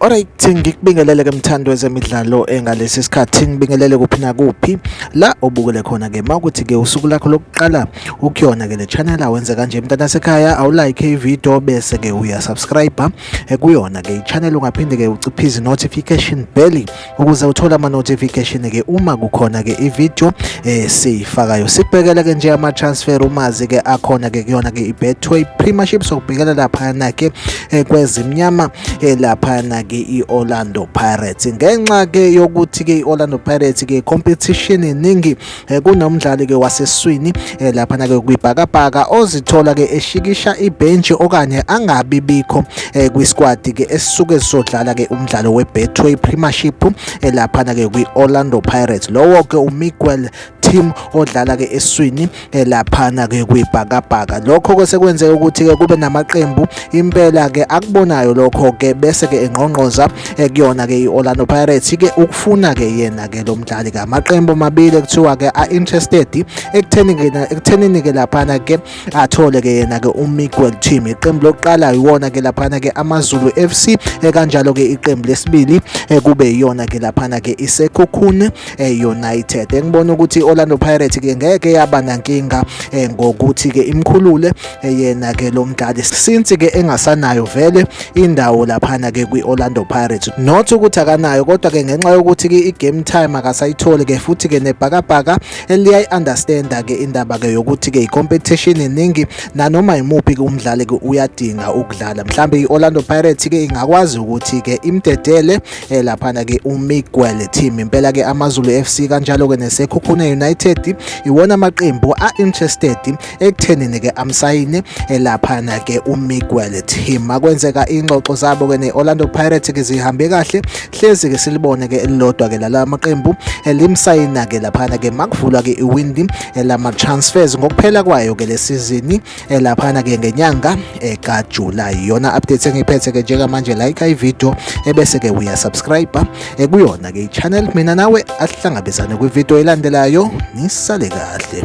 Alright ngikubingelele ke mthando wezemidlalo engalesi sikhathi ngibingelele kuphi nakuphi la obukele khona ke makuthi ke usuku lakho lokuqala ukuyona ke le channel awenze kanje mntana sekhaya awu like i video bese ke uya subscribe eh, kuyona ke i channel ungaphinde ke uciphize notification bell ukuze uthole ama notification ke uma kukhona ke ivideo eh siyifakayo sibhekele ke nje ama transfer umazi ke akhona ke kuyona ke ibetway premiership sokubhekela lapha na ke eh, kwezimnyama eh, lapha na ke iOrlando Pirates ngenxa ke yokuthi ke iOrlando Pirates ke competition iningi eh, kunomdlali ke waseswini eh, laphana ke kwibhakabhaka ozithola ke eshikisha ibhenji okanye angabi bikho eh, kwisquad ke esisuke sizodlala ke umdlalo weBetway Premiership laphana ke kwiOrlando Pirates lowo ke uMiguel team odlala ke eswini eh, laphana ke kwibhakabhaka lokho ke sekwenzeka ukuthi ke kube namaqembu impela ke akubonayo lokho ke bese ke engqongqoza eh, kuyona ke i-Orlando Pirates ke ukufuna ke yena ke lo mdlali ke amaqembu amabili kuthiwa ke a interested ekutheni ke ekuthenini ke laphana ke athole ke yena ke uMiguel Team iqembu lokuqala iwona ke laphana ke AmaZulu FC eh, kanjalo ke iqembu lesibili eh, kube iyona ke laphana ke iSekhukhune United engibona ukuthi Orlando Pirates ke ngeke yaba nankinga ngokuthi ke imkhulule eyena ke lo mdlali since ke engasanayo vele indawo laphana ke kwi-Orlando Pirates not ukuthi akanayo kodwa ke ngenxa yokuthi ke i-game time akasayitholi ke futhi ke nebhakabhaka liyayi-understanda ke indaba ke yokuthi ke i-competition iningi nanoma yimuphi ke umdlali ke uyadinga ukudlala mhlawumbe i-Orlando Pirates ke ingakwazi ukuthi ke imdedele eh, laphana ke uMiguel team impela ke AmaZulu FC kanjalo ke neSekhukhune United iwona amaqembu a-interested ekuthenini ke amsayini elaphana ke uMiguel Team makwenzeka ingxoxo zabo ke neOrlando Pirates ke zihambe kahle hlezi ke silibone ke elilodwa ke lala maqembu elimsayina ke laphana ke makuvulwa ke iwindi elama transfers ngokuphela kwayo ke lesizini elaphana ke ngenyanga eka July yona update engiphethe ke njengamanje like i video ebese ke uya subscribe ekuyona ke ichannel mina nawe asihlangabezane kwivideo elandelayo nisale kahle